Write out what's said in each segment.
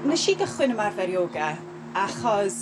Nes i gychwyn ymarfer ioga achos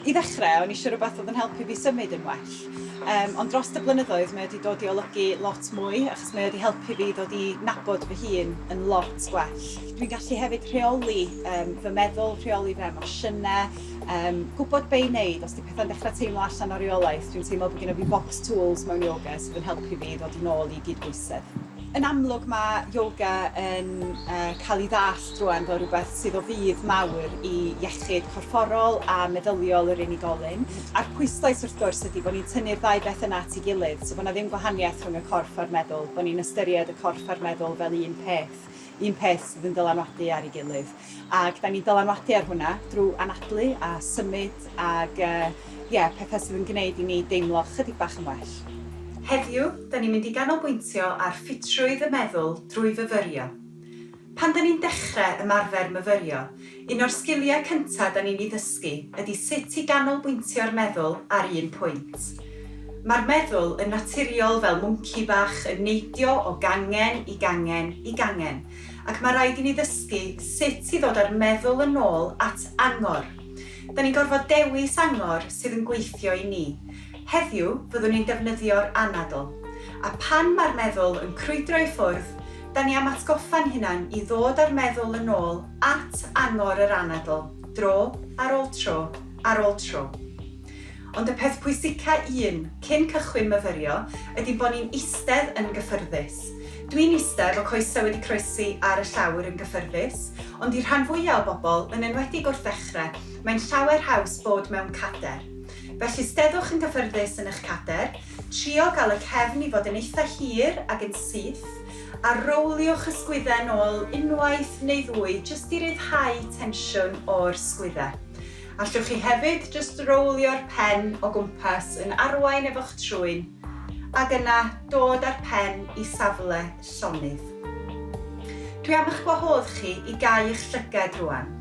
i ddechrau o'n i eisiau rhywbeth oedd yn helpu fi symud yn well. Um, ond dros y blynyddoedd mae wedi dod i olygu lot mwy achos mae wedi helpu fi ddod i nabod fy hun yn lot gwell. Dwi'n gallu hefyd rheoli um, fy meddwl, rheoli fy emosiynau, Yym, gwbod be' i wneud os 'di petha'n dechra teimlo allan o reolaeth, dwi'n teimlo bo' gynno fi bocs tŵls mewn ioga sydd yn helpu fi i ddod yn ôl i gydbwysedd. Yn amlwg ma' ioga yn yy ca'l 'i ddallt rŵan fel rwbeth sydd o fudd mawr i iechyd corfforol a meddyliol yr unigolyn, a'r pwyslais wrth gwrs ydi bo' ni'n tynnu'r ddau beth yna at 'i gilydd, so bo' 'na ddim gwahaniaeth rhwng y corff a'r meddwl, bo' ni'n ystyried y corff a'r meddwl fel un peth, un peth sydd yn dylanwadu ar 'i gilydd. Ac dan ni'n dylanwadu ar hwnna drwy anadlu a symud ac ie, pethau sydd yn gwneud i ni deimlo chydig bach yn well. Heddiw, dan ni'n mynd i ganolbwyntio ar ffitrwydd y meddwl drwy fyfyrio. Pan dan ni'n dechrau ymarfer myfyrio, un o'r sgiliau cyntaf dan ni'n ei ddysgu ydy sut i ganolbwyntio'r meddwl ar un pwynt. Mae'r meddwl yn naturiol fel mwnci bach yn neidio o gangen i gangen i gangen, Ac mae rhaid i ni ddysgu sut i ddod â'r meddwl yn ôl at angor. Da ni'n gorfod dewis angor sydd yn gweithio i ni. Heddiw, fyddwn ni'n defnyddio'r anadl. A phan mae'r meddwl yn crwydro i ffwrdd, da ni am atgoffa'n hunan i ddod â'r meddwl yn ôl at angor yr anadl, dro ar ôl tro ar ôl tro. Ond y peth pwysica un, cyn cychwyn myfyrio, ydi bo ni'n istedd yn gyffyrddus. Dwi'n iste efo coese wedi croesi ar y llawr yn gyffyrddus, ond i'r rhan fwya o bobl, yn enwedig wrth ddechre, mae'n llawer haws bod mewn cader. Felly steddwch yn gyffyrddus yn ych cader, trio ga'l y cefn i fod yn eitha hir ag yn syth, a rowliwch y sgwydde nôl unwaith neu ddwy jyst i ryddhau tensiwn o'r sgwydde. Allwch chi hefyd jyst rowlio'r pen o gwmpas yn arwain efo'ch trwyn, ac yna dod â'r pen i safle llonydd. Dwi am eich gwahodd chi i gau eich llyged rŵan,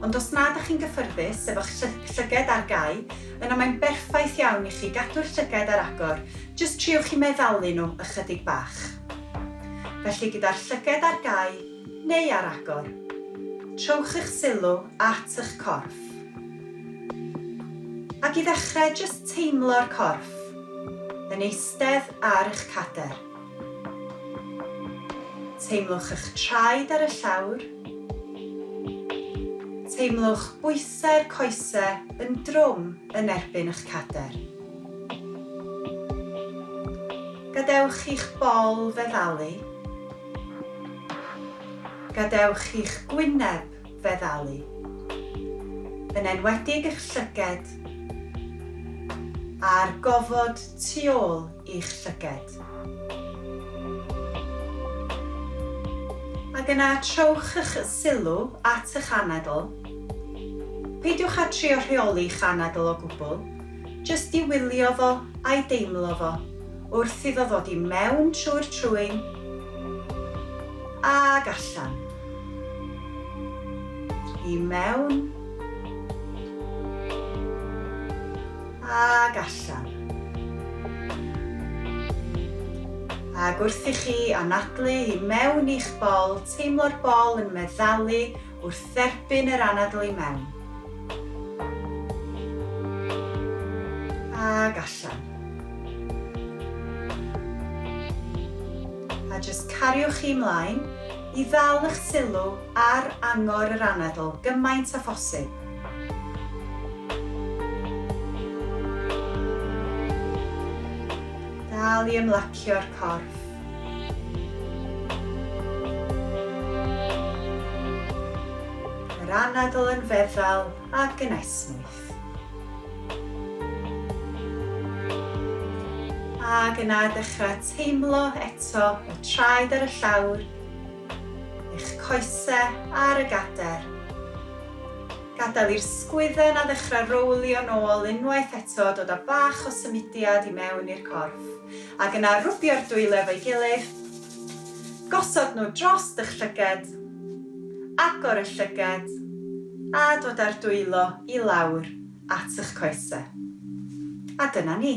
ond os nad ych chi'n gyffyrddus efo'ch llyged ar gau, yna mae'n berffaith iawn i chi gadw'r llyged ar agor, jyst triwch i meddalu nhw ychydig bach. Felly gyda'r llyged ar gau, neu ar agor. Trowch eich sylw at eich corff. Ac i ddechrau, jyst teimlo'r corff yn eistedd ar eich cadair. Teimlwch eich traed ar y llawr. Teimlwch bwysau'r coesau yn drwm yn erbyn eich cadair. Gadewch i'ch bol feddalu. Gadewch chi'ch gwyneb feddalu, yn enwedig eich llyged a'r gofod tu ôl i'ch llyged. Ac yna trowch eich sylw at eich anadl. Peidiwch â trio rheoli'ch anadl o gwbl, jyst i wylio fo a'i deimlo fo. wrth iddo ddod i mewn trwy'r trwyn ac allan. I mewn ac allan. Ac wrth i chi anadlu i mewn i'ch bol, teimlo'r bol yn meddalu wrth dderbyn yr anadl i mewn ac allan. A jyst cariwch chi mlaen i ddal eich sylw ar angor yr anadl gymaint â phosib. Dal i ymlacio'r corff. Yr anadl yn feddal ac yn esmwyth. Ac yna dechrau teimlo eto y traed ar y llawr, eich coesau ar y gader. Gadael i'r sgwydden a ddechrau rowlio'n ôl unwaith eto dod â bach o symudiad i mewn i'r corff. Ac yna rwbio'r dwylo efo'i gilydd, gosod nhw dros dy llyged, agor y llyged a dod â'r dwylo i lawr at y'ch coesau. A dyna ni.